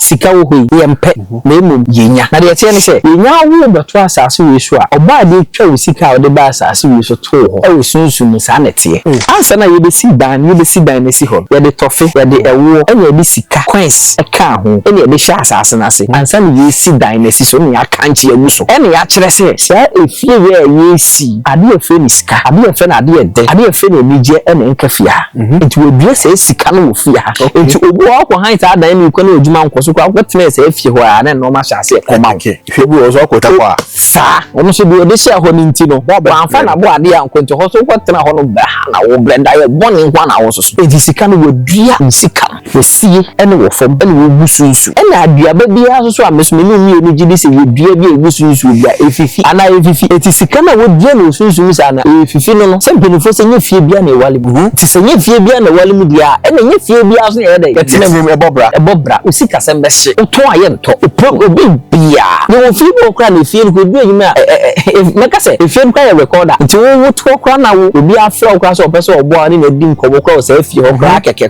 Sika wɔ hɔ yi, yɛmpɛ, na mmom yɛnya. Na deɛ ɛteɛ ne sɛ, yɛnya wo rebɛto asase wei so a, ɔbaa a deɛ twa wo sika a wode baa asase wei so too hɔ wɔ sunsum mu, saa na ɛteɛ. Ansa na yɛbɛsi dan, yɛbɛsi dan no asi hɔ no, yɛde tɔfe, yɛde ɛwoɔ, ɛnna yɛde sika, coins, kaa ho, ɛnna yɛde hyɛɛ asase no ase. Ansa na yɛresi dan no asi so, ɛnna yɛakankye agu so, ɛnna yɛakyerɛ sɛ, saa efie wei a yɛresi yi, adeɛ a yɛfrɛ no sika, adeɛ a yɛfrɛ no adeɛ a ɛdɛ, adeɛ a yɛfrɛ no anigyeɛ na ɛnka fie ha. Nti wɔadua saa sika no wɔ fie ha. Nti obi wɔ hɔ ɔkɔ hann saa dan no mu kɔ na adwuma nkɔ so koraa ɔkɔ tenaa saa fie hɔ ara na nnoɔma hyɛ aseɛ kɔ ma wo. Hwɛ bi wɔ hɔ so ɔkɔ twa kɔ a. Saa. Wɔn nso deɛ ɔde hyɛɛ hɔ no nti no wɔamfa n'aboadeɛ ankɔ nti hɔ nso wokɔ tena hɔ no brɛ ha na wo brɛ daeɛ bɔne nko ara na wososo. Nti sika no wɔadua sika. Fɛsie ne wɔ fam na wogu so nsu. Ɛna aduaba biara nso so a mesome no mmienu gye di sɛ yɛ dua bi a yɛgu so nsuo bi a ɛfifi anaa ɛmfifi. Ɛti sika no a wɔdua no wɔ sunsum saa no a ɛfifi no no sɛ mpaninfoɔ sɛ nyɛ fie biara na yɛwale mu dua. Nti sɛ nyɛ fie biara na yɛwale mu dua a ɛna nyɛ fie biara nso na yɛyɛ dɛn yɛtena mu. Ɛbɔ bra. Ɛbɔ bra. Wo sikasɛm bɛhye. Wo tɔn a yɛ ntɔ. Ɔpɛ obi biara. Yɛwɔ fie bi wɔ hɔ koraa na efie no koraa ɛdu anyim a ɛɛ mɛka sɛ efie no koraa yɛ recorder. Nti wo wo to hɔ koraa na wo obiara frɛ wo koraa sɛ ɔpɛ sɛ ɔboa wo ne no adi nkɔmmɔ koraa wɔ saa fie hɔ koraa kɛkɛ.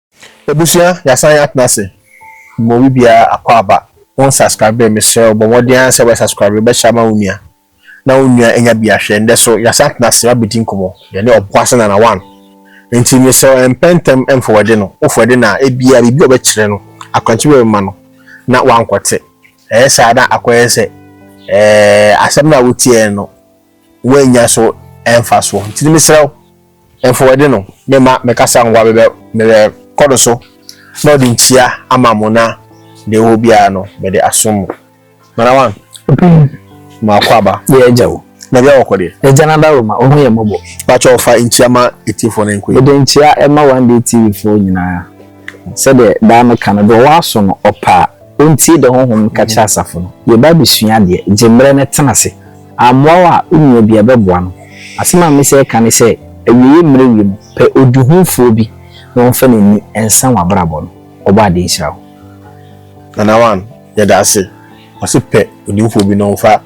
Abusua yɛasan atena ase ma obi biara akwaaba wo nsaskrabee mesrɛ wo bɔ mmɔden ara sɛ wobɛ saskrabee bɛ share ma wo nua na wo nua anya bi ahwɛ ndɛ so yɛasan atena ase abɛdi nkɔmmɔ yɛne ɔboase nana one nti mesrɛ wo mpɛ ntɛm mfowɛde no wo fowɛde no a ebia biribi a ɔbɛ kyerɛ no akwankyerɛ bi bɛma no na wankɔ te ɛyɛ saa na akɔ yɛ sɛ ɛɛ asɛm no a wo tiɛ no wo annya so mfasoɔ nti mesrɛ wo. Mfowadi no, mema me kasa ngoa bɛbɛ mebɛ kɔ do so na ɔde nkyia ama mo na deɛ ɔwɔ hɔ biara no mede asom mo. Mana wan? Ɔpanyin. Ma ɔkɔ aba. Yɛ agya o. Na bia ɔkɔ deɛ? Agya no adaroma, ɔhu yɛn mmɔbɔ. Pakyɛw fa nkyia ma atiefoɔ no nkɔ yi. Mede nkyia ma One Day TV foɔ nyinaa. Sɛdeɛ daa me ka no, deɛ ɔwɔ aso no ɔpɛ a, ɔntie deɛ Honhom no ka kyerɛ asafo no. Yɛba abɛsua adeɛ, gye mmerɛ na tena ase. Ammoa wo a, wo nua biara bɛboa no. Asɛm a mese ɛka ne sɛ, awieeɛ mmerɛ wie no, pɛ ɔdihunfoɔ bi na ɔmfa n'ani nsa w'abrabɔ no. Ɔbɔadeɛ nhyira wo. Nana one, yɛda ase. Ɔse pɛ odihunfoɔ bi na ɔmfa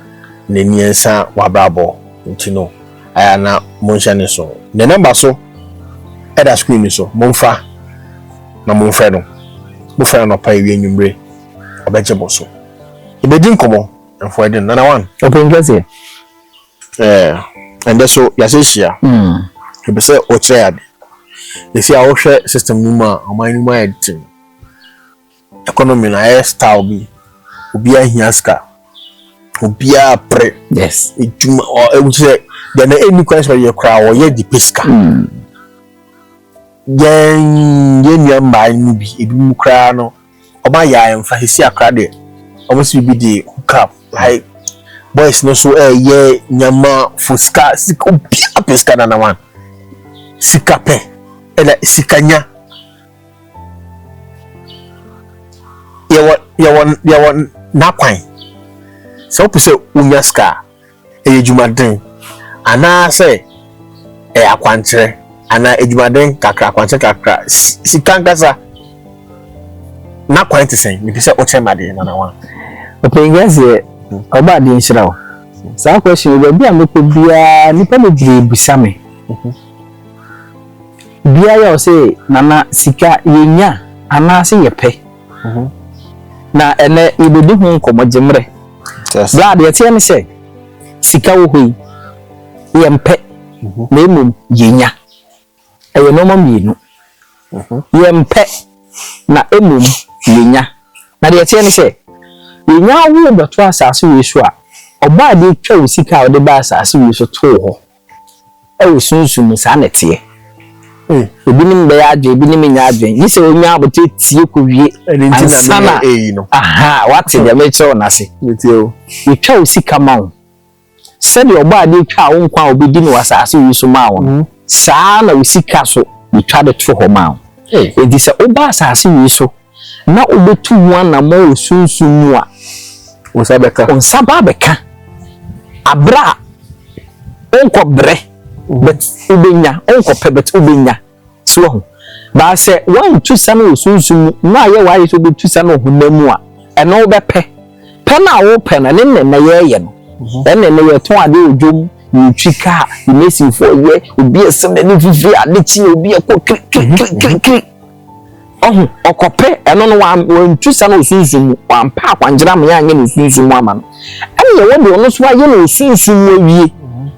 n'ani nsa w'abrabɔ nti no, ayɛ a na monhyɛ ne nsow. Ne number so ɛda screen no so, momfa na momfrɛ no. Mofrɛ no anɔpa, awia, anwummere, ɔbɛgye mo so. Yɛbɛdi nkɔmmɔ. Ɛfɔ ɛden nana wan. Ɔpɛn kɛseɛ. Ɛɛ ɛndɛ so yase hyia. Ɛpɛ sɛ ɔkyerɛ ade. Ɛsi a wohwɛ system no mu a ɔman no mu ayɛ den. Economy no ayɛ style bi. Obiara hia sika. Obiara pere. Yes. Edwuma ɔ ɛwukyerɛ deɛ na ɛnni kwan sɛ ɔyɛ koraa ɔyɛ de pɛ sika. Yɛn yɛn nua mmaa no mu bi ebinom koraa no. wɔn ayɛ a ɛmfa sisi akra deɛ wɔn si bibi de hook up like boys no so ɛyɛ nyama fo sika sika obiara pɛ sika nana wan sika pɛ ɛna sika nya yɛwɔ yɛwɔ yɛwɔ n'akwan sɛ wopɛ sɛ wonya sika a. ɛyɛ adwumaden anaasɛ ɛyɛ akwankyerɛ anaa adwumaden kakra akwankyerɛ kakra sika nkasa na kwan te sɛn mepɛ sɛ wokyerɛ ma deɛ nanawa ɔpɛn gɛseɛ ɔba adeɛ nhyira wo saa question yi baabi a mekɔ biara nnipa bebree bisa me biara yɛ ɔsɛ nana sika yɛnya anaasɛ yɛpɛ Na ɛnnɛ yebedi ho nkɔmmɔ gye mmerɛ. Berɛ a deɛ ɛteɛ ne sɛ, sika wɔ hɔ yi, yɛmpɛ, na mmom yɛnya. Ɛyɛ nnoɔma mmienu. Yɛmpɛ, na mmom yɛnya. Na deɛ ɛteɛ ne sɛ, yɛnya wo bɛto asase wei so a, Ɔbaa bi twa wo sika a wode baa asase wei so too hɔ. Ɛwɔ sunsum mu, saa na ɛteɛ. Ebinom bɛyɛ adwene, ebinom nyɛ adwene. Gye sɛ onya abotire tie kowie ansa na wate deɛ merekyerɛ wo no ase. Yɛtwa wo sika ma wo. Sɛdeɛ ɔbɔ adeɛ twaa wo nkwa a wobɛdi no wɔ asase wei so maa wo no, saa ara na wo sika nso yɛtwa de to hɔ ma wo. Enti sɛ woba asase wei so Na wobetu ho anammɔn wɔ sunsum mu a. Wo nsa bɛka. Wo nsa ba abɛka. Abere a wonkɔbrɛ, but wobenya, wonkɔpɛ, but wobenya. So wahu? Baa sɛ woantu sa no wɔ sunsum mu na ayɛ w'ade sɛ wobetu sa no wɔ honam mu a, ɛno wobɛpɛ. Pɛ no a wopɛ no, ɛne nnɛnnɛ yɛyɛ no. Mhm. Ɛne nnɛ yɛtɔn ade wɔ dwom, yɛtwi kaa, yɛmɛsifoɔ yɛ, obi ɛsɛ n'ani fifiri ade kye, obi ɛkɔ kirikirikirikiri. Ɔho, ɔkɔpɛ ɛno no wantu sa no osunsum mu, wampɛ akwankyerɛ ama yɛanyɛ no osunsum mu ama no, ɛne yɛ wɔde ɔno nso ayɛ no osunsum mu awie.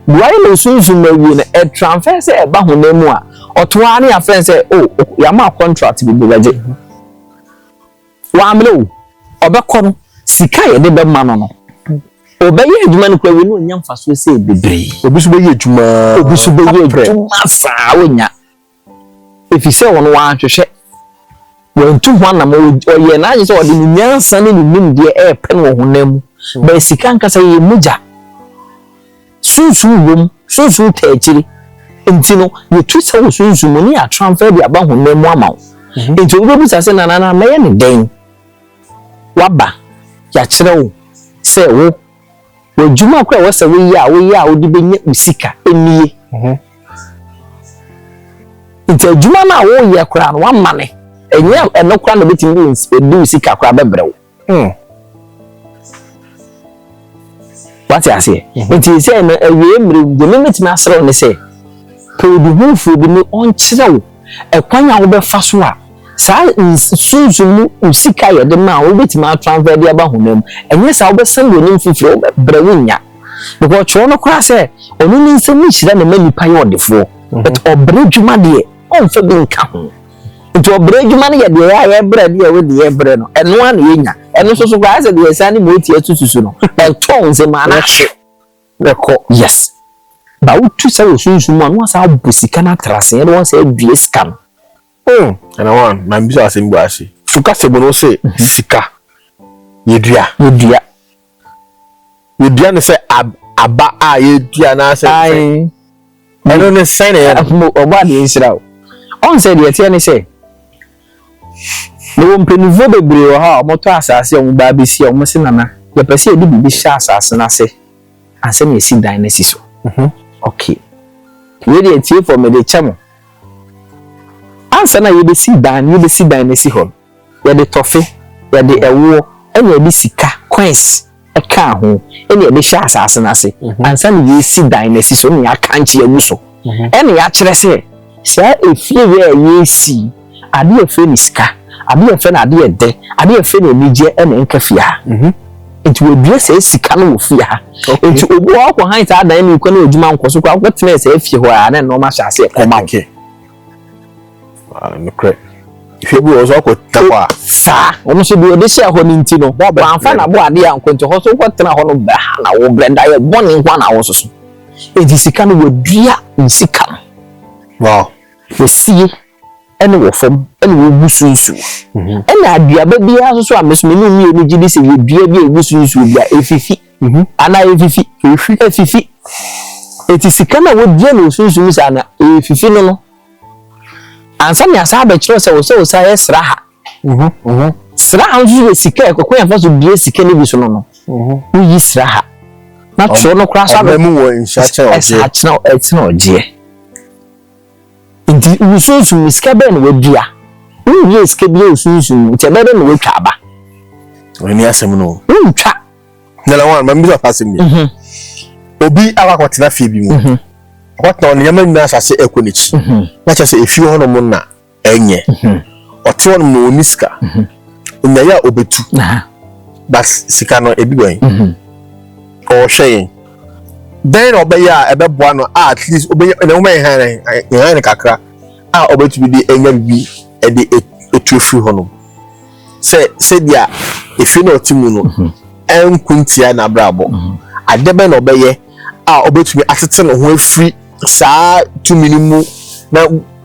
Deɛ wɔayɛ no osunsum mu awie no, ɛtransfer sɛ ɛba honam mu a, ɔto ara ne yɛafrɛ no sɛ, o, yɛama wo contract bi, bɛgye. Wammrɛ o, ɔbɛkɔ no, sika a yɛde bɛma no no, ɔbɛyɛ adwuma no koraa wie na ɔnya mfasoɔ sɛ bebree. Obi nso bɛyɛ adwuma. Obi nso bɛyɛ adwuma saa, ɔnya. Efisɛ wɔn wɔanhwehwɛ, wɔantu ho anam, ɔyɛɛ n'adwene sɛ ɔde ne nyansa ne ne nimdeɛ repɛ no wɔ honam mu, bɛn sika ankasa, ɛyɛ mogya. Sunsum wom, sunsum taa akyiri. Nti no, yɛtu sɛ wɔ sunsum mu ne yɛatranfa de aba honam mu ama wo. Mhm. Nti wobɛbisa sɛ, nanana mɛyɛ ne dɛn? Waba, yɛakyerɛ wo sɛ wo W'adwuma koro a ɛwɔ sɛ woyɛ a woyɛ a wode bɛnya wo sika nie. Nti adwuma no a woyɛ koraa no woamane. Ɛnyɛ ɛno koraa na ɛbɛtumi de wo sika koraa bɛbrɛ wo. Hmm. Wate aseɛ? Mhm. Nti sɛ ɛno awie mmerɛ deɛ mɛmɛtumi aserɛ wo ne sɛ pɛ obi hufoɔ bi ne ɔnkyerɛ wo ɛkwan a wobɛfa so a saa sunsum mu sika a yɛde ma a wobɛtumi atransfer de aba honam mu, ɛnyɛ saa wobɛsan w'anim fifire, wobɛbrɛ wonnya. Because ɔtwerɛ no koraa sɛ ɔno ne nsam nhyira na ɛma nipa yɛ ɔdefoɔ. Mhm. But ɔbrɛ adwuma deɛ, ɔmfa bi nka ho. Nti ɔbrɛ adwuma no yɛ deɛ yɛ a yɛbrɛ deɛ ɛwɔ deɛ yɛbrɛ no, ɛno a na yɛnya. Ɛno nso so koraa sɛ deɛ yɛsan ne motia sususu no, ɛtɔn nsɛm anaa hye. Bɛkɔ yes but wotu sa wɔ sunsum mu a na wasan abɔ sika no atra ase ɛna wasan adua sika no hmm. Ɛna wan ma mbisa asɛm bi ase so kasa mu no wose mhm. sika yɛdua yɛdua yɛdua no sɛ aba a yɛdua anaasɛ Ɛno no sɛn na ɛyɛ no? Afei ɔbɔ adeɛ nsira o. Ɔn sɛ deɛ ɛteɛ ne sɛ, mewɔ mpanimfoɔ bebree wɔ ha a wɔtɔ asaase a wɔba abɛsi a wɔse Nana yɛpɛ sɛ yɛde biribi hyɛ asaase no ase ansa na yɛasi dan no asi so. Ok, wei deɛ atiefoɔ mede kyɛ mo. Ansa na yɛbɛsi dan no yɛbɛsi dan no asi hɔ no, Yɛde tɔfe, yɛde ɛwoɔ, ɛna yɛde sika, coins, kaa ho, ɛna yɛde hyɛ asaase no ase, ansa na yɛresi dan no asi so, ɛna yɛakankye agu so, ɛna yɛakyerɛ sɛ, saa efie wei a yɛresi yi, adeɛ a yɛfrɛ no sika, adeɛ a yɛfrɛ no adeɛ ɛdɛ, adeɛ a yɛfrɛ no anigyeɛ ɛna ɛnka fie ha. Nti wɔadua saa sika no wɔ fie ha. Nti obi wɔ hɔ a ɔkɔhan saa dan no wikɔ na adwuma nkɔ so koraa, wokɔtenaa saa fie hɔ a, na nneɛma hyɛ aseɛ kɔma wo. Ah, nokorɛ. Hwɛ bi wɔ so akɔ tena hɔ a. Saa, ɔno nso deɛ ɔde hyɛɛ hɔ no nti no, wɔamfa n'aboadeɛ ankɔ nti hɔ so wokɔ tena hɔ no bɛha na wo brɛ dayɛ bɔne nko a na wo soso. Enti sika no wɔdua nsika no. Wow. Wɔsie ɛne wɔ fam ɛne wɔgu so nsuo. Mhm. Ɛna aduaba biara nso a meso mene mmienu gye di sɛ yɛdua bi a ɛgu so nsuo bi a ɛfifi. Mm -hmm. Ana efifi. Efi. Efifi. Eti sika na wodua no osunsum saa na efifi no no. Ansa na asa abɛkyerɛ sɛ wosɛ wosɛ ayɛ sraha. Mhm. Mhm. Sraha nso yɛ sika ɛkɔkɔ yɛn fa so dua sika no bi so no no. Mhm. Woyi sraha. Na twerɛ no koraa so abɛ. Ɔbɛmu wɔ nhyɛkyerɛ ɔgyeɛ. Ɛsa akyerɛ ɛkyerɛ ɔgyeɛ. Nti wusunsum me sika bɛn na woadua? Wunwiee sika biara a wusunsum no, nti ɛbɛyɛ dɛn na woatwa aba? Ɛno ne asɛm no. Wontwa. Nana wɔn, ma mbisa asɛm bi. Mhm. Obi akɔ akɔtena fie bi mu. Mhm. Ɔkɔtena ɔno nneɛma nyinaa asase ɛkɔ n'akyi. Mhm. Na kyerɛ sɛ efie hɔnom na ɛnyɛ. Ɔte hɔnom na ɔnni sika. nyaeɛ a ɔbɛtu but sika no ɛbi bɛn mhm. ɔhwɛ yɛn dɛn na ɔbɛyɛ a ɛbɛboa no a at least ɔbɛnya ɛna ɔma yɛn han yɛn han kakra a ɔbɛtumi de ɛnya bibi ɛde ɛtu efiri hɔ nom sɛ sɛdeɛ efie na ɔte mu no mhm. ɛnko ntia n'abrabɔ mhm. adeɛ bɛn na ɔbɛyɛ. a ɔbɛtumi atete ne ho afiri saa tumi no mu na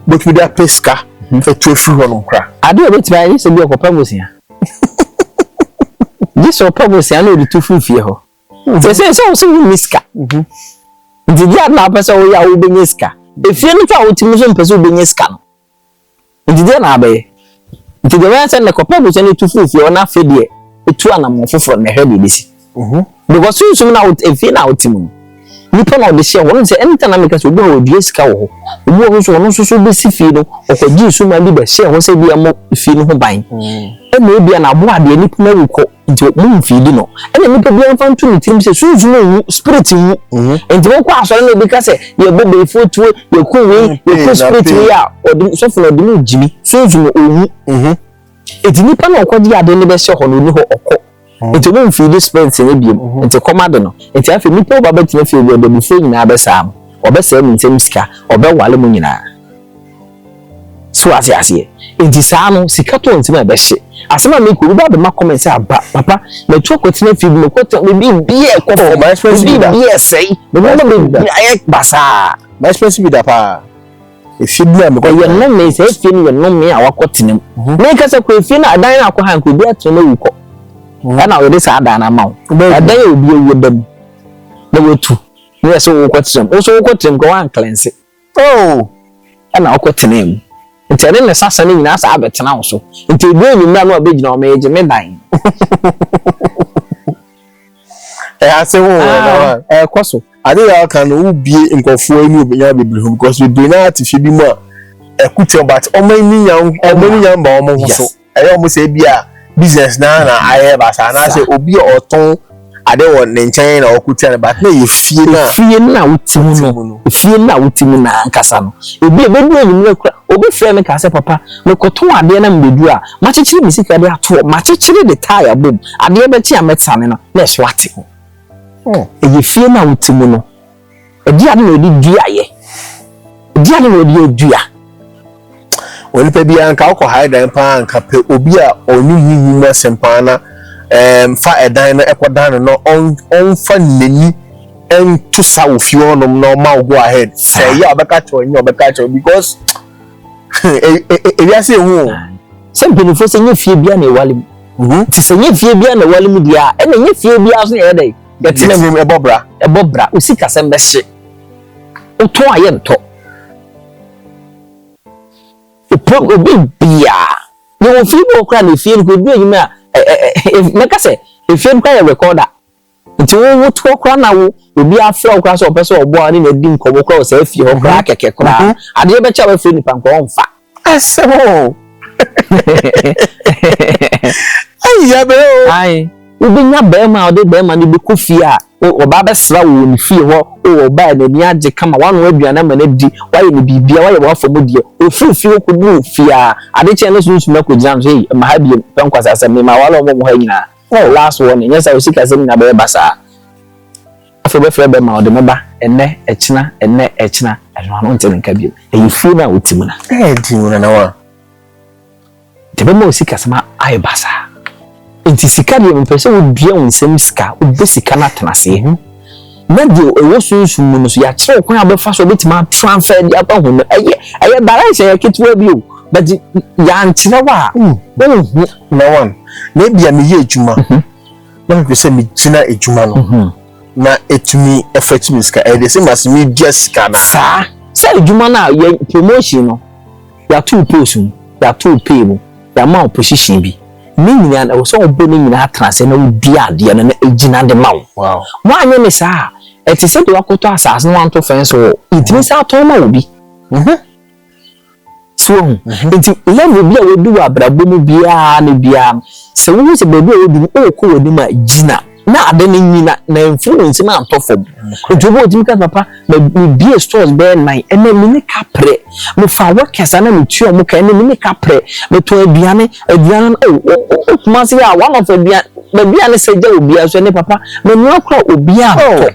bɛtumi de apɛ sika mhm. atu afiri hɔ nom kora ade a ɔbɛtumi ayɛ sɛ bi ɔkɔpɛ bosea gye sɛ ɔpɛ bosea na ɔde tu firi fie hɔ mhm. sɛ sɛ sɛ wo sɛ wonni sika mhm. nti gye ade na wopɛ sɛ woyɛ a wobɛnya sika efie no fa a wotumi so mpɛ sɛ wobɛnya sika no Enti deɛ na abɛyɛ? Enti deɛ mɛyɛ sɛ nnɛ kɔpɛ abusua no tu firi fie hɔ na afei deɛ tu anamɔn foforɔ na ɛhwɛ deɛ ɛbɛsi. Because sunsum na efie na wote mu no, nipa na ɔde hyɛ hɔ. Ɔno sɛ anytime na meka sɛ obi wɔ hɔ ɔdua sika wɔ hɔ. Obi wɔ hɔ nso ɔno nso so bɛsi fie no ɔkɔgye nsuman bi bɛhyɛɛ hɔ sɛ bi ɛmmɔ fie no ho ban. Ɛna ebia na aboa deɛ nipa no awu kɔ. Nti mo mfiidi no. Ɛna nipa biara mfa nto ne tirim sɛ sunsum nwu, spirit nwu. Mhm. Nti mo kɔ asɔre na ebi ka sɛ yɛbɔ beefoɔ tuo, yɛku wei, mm, yɛku spirit wei a ɔde sɔfo na ɔde no gyimi sunsum no ɔnwu. Mhm. Nti nipa na ɔkɔgye ade no bɛhyɛ hɔ no ɔni hɔ ɔkɔ. Mhm. Nti mo mfiidi spirit no ebiem. Nti kɔm ade no. Nti afei nipa ɔba bɛtena fie bi ɔdabifoɔ nyinaa bɛsaa mo. Ɔbɛsɛe mo nsɛm sika, ɔbɛwale mo nyinaa. So ate aseɛ? Nti saa no, sika tɔ nti na ɛbɛhye. Asɛm a meka, obi ba bɛma comment sɛ aba, papa, matu akɔtena fie bi, mekɔ tena, me biribiara ɛkɔ fam, oh, me biribiara ɛsɛe, me nneɛma bebree ayɛ basaa. Ma expensive bi da paa. Efie bi a mekɔ. Ɛyɛ nnome, sɛ efie no yɛ nnome a wakɔ tena mu. Mhm. Meka sɛ kɔ efie no, adan no akɔ ha nka obi atena mu awu kɔ. Mhm. Ɛna wɔde saa adan no ama wo. Adan a obi awu da mu na watu. Ne yɛ sɛ wokɔ tena mu. Wo nso wokɔ tena mu ka woanklɛnse. Oh! Ɛna ɔkɔ tenaa mu. Nti ɛne ne sasa no nyinaa saa bɛtena wo so. Nti ɛduru anwummerɛ a na wabɛgyina hɔ, Megye me dan. Ɛyɛ ase ho wɔ na wa. Ɛkɔ so. Ade yɛ ɔka no, wobie nkurɔfoɔ ani obɛnya bebree ho because bebree no ara te fie bi mu a ɛko tia wɔn but wɔn ani nya wɔn ani nya mba wɔn ho so. Ɛyɛ a wɔn sɛ ebi a business naa na ayɛ ba saa anaasɛ obi a ɔtɔn ade wɔ ne nkyɛn na ɔko tia no but na yɛ fie na fie no a wote mu no fie no a wote mu na ankasa no ebi a ebedu enyimire kora obi frɛ me kaa sɛ papa mekɔtɔn adeɛ na mebedu a makyekyere me sika de ato hɔ makyekyere de tae abom adeɛ bɛkye a mɛtane no na ɛso ate hɔ hmm. ɛyɛ fie no a wote mu no Ɛdeɛn ade na wɔde dua yɛ? Ɛdeɛn ade na wɔde yɛ dua? Onipa biara nka wokɔ hae dan paa nka pɛ obi a ɔnim honhom mu asɛm paa na um, fa ɛdan no ɛkɔdan no na ɔmfa n'ani ɛnto sa wɔ fie hɔnom na ɔma wo go ahead sɛ ɛyɛ a ɔbɛka kyerɛ ɔnyɛ ɔbɛka kyerɛ because ewiase ehu o. sɛ mpanyinfoɔ sɛ nye fie bia na ewale mu mhm. ti sɛ nye fie bia na ewale mu deɛ a ɛna nye fie bia so na ɛyɛ dɛ. Yɛtena nwom ɛbɔ bra. Ɛbɔ bra. Wo sikasɛm bɛhye. Wotɔ a yɛntɔ. Wopɛ obi biaa. Yɛwɔ fie bi wɔ hɔ koraa na efie no koraa edu anwummere a mɛka sɛ efie no koraa yɛ recorder. Nti wo wo toɔ koraa na wo obi afrɛ wo koraa sɛ ɔpɛ sɛ ɔboa wo ne no adi nkɔmmɔ koraa wɔ saa fie hɔ koraa kɛkɛ koraa. Adeɛ bɛkyɛ a wafrɛ nipa nkoraa ɔmfa. Asɛm o. Ayi abere o. Ayi. Wobɛnya barima a ɔde barima no bɛkɔ fie a ɔba abɛsra wɔ wɔn fie hɔ o ɔbaa n'ani agye kama wanoa aduane ama no adi wayɛ no biribiara wayɛ wafa mu deɛ ɔfiri fie hɔ kɔduru fie a ade kyɛn no sunsum akɔgyina no sɛ ei mma ha biom pɛ nkwasasɛm mema aware wɔn wɔ ha nyinaa oh last warning nyɛ saa o sikasɛm nyinaa bɛyɛ basaa. Afei wobɛfrɛ bɛ ma ɔde me ba ɛnnɛ, ɛkyena, ɛnnɛ, ɛkyena. Ɛno ano nte ne nka bio. Ɛyɛ fie no a wote mu no. Ɛɛ di mu nana wa. Deɛ ɛbɛma wo sikasɛm ayɛ basaa. Nti sika deɛ mepɛ sɛ wodua wo nsam sika, wobɛ sika no atena aseɛ. Mm-hmm. Na deɛ ɛwɔ sunsum mu no so yɛakyerɛ wo kwan a wobɛfa so wobɛtumi atransfer de aba ho no. Ɛyɛ ɛyɛ direction yɛ ketewa bi o. But yɛankyerɛ wo a, mm. wonhu. Na wan, na ebia meyɛ adwuma. Mm-hmm. na mepɛ sɛ megyina adwuma no mhm. na ɛtumi ɛfa tumi sika ɛyɛ de sɛ mase medua sika no saa sɛ adwuma no a yɛ promotion no yɛato post mu yɛato pay mu yɛama wo position bi ne nyinaa na ɛwɔ sɛ wobɔ ne nyinaa tena sɛ na wodi adeɛ no na ɛgyina de ma wo woanyɛ ne saa a ɛte sɛ deɛ wakɔtɔ asase no wanto fɛn so wɔ ɛtumi sɛ atɔn ma wo bi mhm. So woahu? Enti level bi a woadu wɔ abrabɔ mu biara ne biara no, sɛ wuhu sɛ baabi a woadu no ɔrekɔ w'anim a, gyina na ade no nyi na na mfiri wo nsam antɔ fam. Enti obi a otumi ka sɛ, Papa, mebue stores bɛyɛ nnan, ɛnnɛ me ne ka prɛ. Mefaa workers a na metua wɔn ka, ɛnnɛ me ne ka prɛ. Metɔn aduane, aduane no, oh, wo, wo, wo Kumasi ha, one of aduane, baabi a ne sɛ gya wɔ biara nso, ɛnnɛ papa, menoa koraa obiara ntɔ.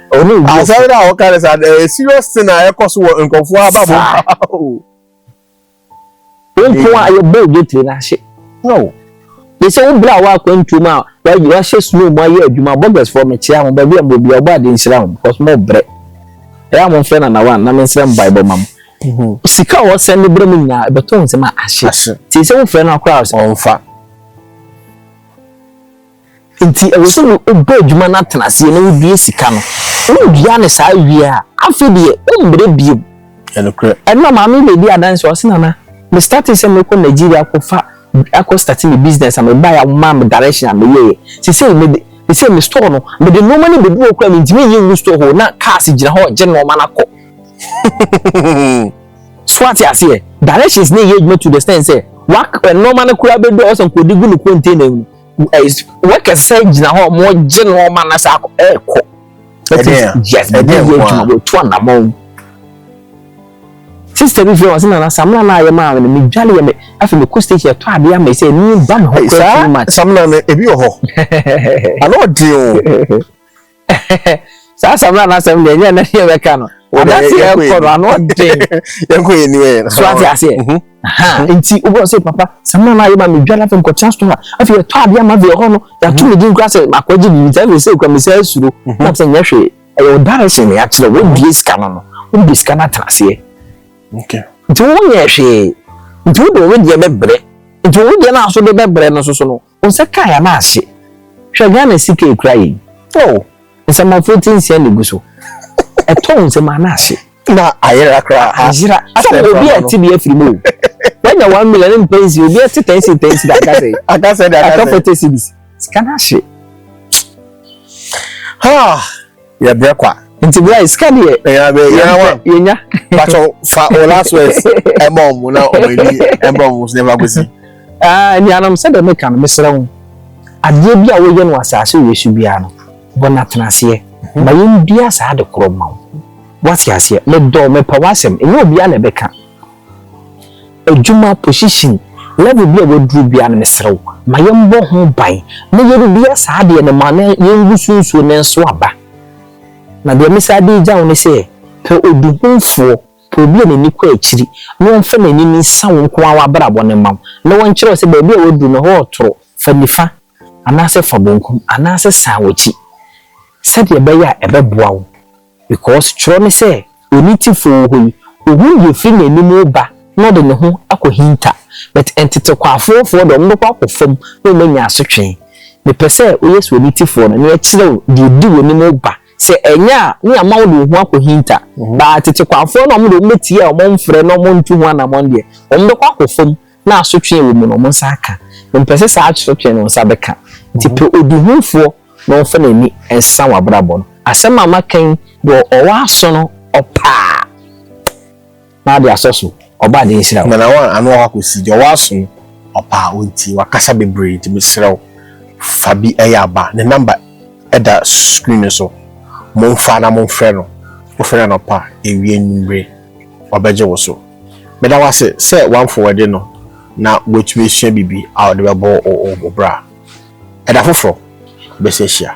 Asɛm no a wɔka no saa ɛyɛ serious thing a ɛkɔ so wɔ nkurɔfoɔ ababɔ nko a yɛbɔ odwetire no ahye ne sɛ wo berɛ a woakwantuom a wahyɛ snow mu ayɛ adwuma bɔgɛsfoɔ mekyea mo baabi a mobɔ bia wobɔ ade nhyira ho because mo brɛ ɛyɛ a momfrɛ nanawa na mensrɛ mbaebɔ ma mo mhm. sika a wɔsɛn ne berɛ mu nyinaa ɛbɛtɔ nsɛm a ahye nti sɛ wofrɛ no akoraa sɛ ɔmfa Enti ɛwɔ sɛ wobɔ adwuma no atena aseɛ na wodua sika no. Wodua no saa wie a, afei deɛ wommerɛ bio. Ɛnora maame bi a ɔdi adanseɛ ɔse Nana, me startee sɛ mɛkɔ Nigeria akɔfa akɔ starte me business a mebaeɛ a wɔmaa me direction a meyɛeɛ. Seesei mede seesei me store no mede nnoɔma no bɛgu hɔ koraa mentumi nyi ngu store hɔ o, na cars gyina hɔ regye nnoɔma no akɔ. So ate aseɛ? Directions no reyɛ adwuma to the extent sɛ wak nnoɔma no koraa bɛdu a wɔsan kɔde gu no container mu. workers sɛ gyina hɔ ɔmo gye nneɛma na sɛ akɔ ɛɛkɔ ɛti yes ɛdi yɛ adwuma wɔ etu anamɔ sista bi fɛ ɔsi nana samina naa yɛ maa mi mi dwale yɛ mi afɛ mi kɔ station ɛtɔ adeɛ ama ɛsɛ ɛni ba mi hɔ kura too much. samina no ebi wɔ hɔ ano ɔdi o saa samina n'asɛm deɛ ɛnyɛ ɛnɛ deɛ bɛka no anase yɛ kɔ no ano den yɛnkɔ yɛ ni yɛ so ate aseɛ nti wobɛ sɛ papa samina no ayɛ ma me dwa no afei nkɔtena store a afei yɛtɔ adeɛ ama afei ɛhɔ no yɛato me din kora sɛ makɔgye biribi sɛ afei sɛ kura me sɛ asuro na sɛ nyɛ hwee ɛyɛ wo direction ne akyerɛ wodue sika no no wode sika no atena aseɛ nti wonyɛ hwee nti wode wo deɛ bɛbrɛ nti wo deɛ no aso de bɛbrɛ no soso no Wo sa kaa yɛn ase. Hwɛ Ghana sika ekura yɛn. Oh, nsɛm aforiti nsia na egu so. Ɛtɔ wo nsam ana ase. Na ayera koraa. Ayera. Asɛ obi a ɛte bi afiri mu o. Wanya one million ne mpɛ nsi obi ɛte ten si ten si da aka sɛ. Aka sɛ de aka sɛ. Aka forty cedis. Sika no ahye. Ha. yɛ brɛ kwa. Nti bra sika deɛ. Ɛyà bɛ yà wa. Yɛ nya. Bàtò fa o last words ɛmɔ ɔmo na ɔmo ɛni ɛmɔ ɔmo sinɛ fa kosi. Ɛɛ nuanom sɛ dɛ mi ka no mi srɛ ho adeɛ bi a wɔyɛ no asaase wei so biara no bɔ na tena aseɛ mhm. ma yɛn dua saa de korɔ ma wo wate aseɛ medɔ mepɛ w'asɛm ɛnyɛ obiara na ɛbɛka Adwuma, position, level bi a waduru biara no mesrɛ wo ma yɛmbɔ ho ban na yɛrebia saa adeɛ no ma na yɛngu so nsuo na ɛnso aba. Na deɛ me san de regya wo ne sɛ pɛ odihunfoɔ, pɛ obi a n'ani kɔ akyiri na ɔmfa n'anim nsa wo nko ara w'abrabɔ no mma wo na ɔnkyerɛ wo sɛ baabi a waduru no hɔ ɔtoro, fa nifa anaasɛ fa bonkum anaasɛ san w'akyi sɛdeɛ ɛbɛyɛ a ɛbɛboa wo. Because twerɛ ne sɛ, Ɔni Tifoɔ hɔ yi, Ɔhunu deɛ ɛfiri N'anim reba na Ɔde Ne ho akɔhinta. But ntetekwaafoɔfoɔ deɛ, wɔbɛkɔ akɔ fam na wɔanya asotwee. Mepɛ sɛ woyɛ sɛ Ɔni Tifoɔ no, na yɛkyerɛ wo deɛ ɛdi w'anim reba. Sɛ ɛnyɛ a, Ne ama wode wo ho akɔhinta. But atetekwaafoɔ no, wɔn deɛ, wɔbɛtie a wɔn mfrɛ na wɔntu ho anamɔn deɛ, wɔbɛkɔ akɔ fam. na asotwe a ɛwɔ mu no wɔn nsa aka. Mempɛ sɛ saa asotwe no nsa bɛka. Enti pɛ ɔdihunfoɔ na ɔmfa n'ani nsa w'abrabɔ no. Asɛm a maka yi deɛ ɔwɔ aso no ɔpa a, na ade asɔ so. Ɔba ade nhyira wo. Nana one ano ɔha kɔsi deɛ ɔwɔ aso no ɔpa a ɔntie. Wakasa bebree nti mesrɛ wo fa bi ɛyɛ aba. Ne number ɛda screen no so. Momfa na momfrɛ no. Wofrɛ no anɔpa, awia, anwummere. ɔbɛgye wo so. Meda wo ase sɛ woamfo w'ade no na woatumi asua biribi a wode bɛbɔ wo bra. Ɛda foforo, yɛbɛsan ahyia.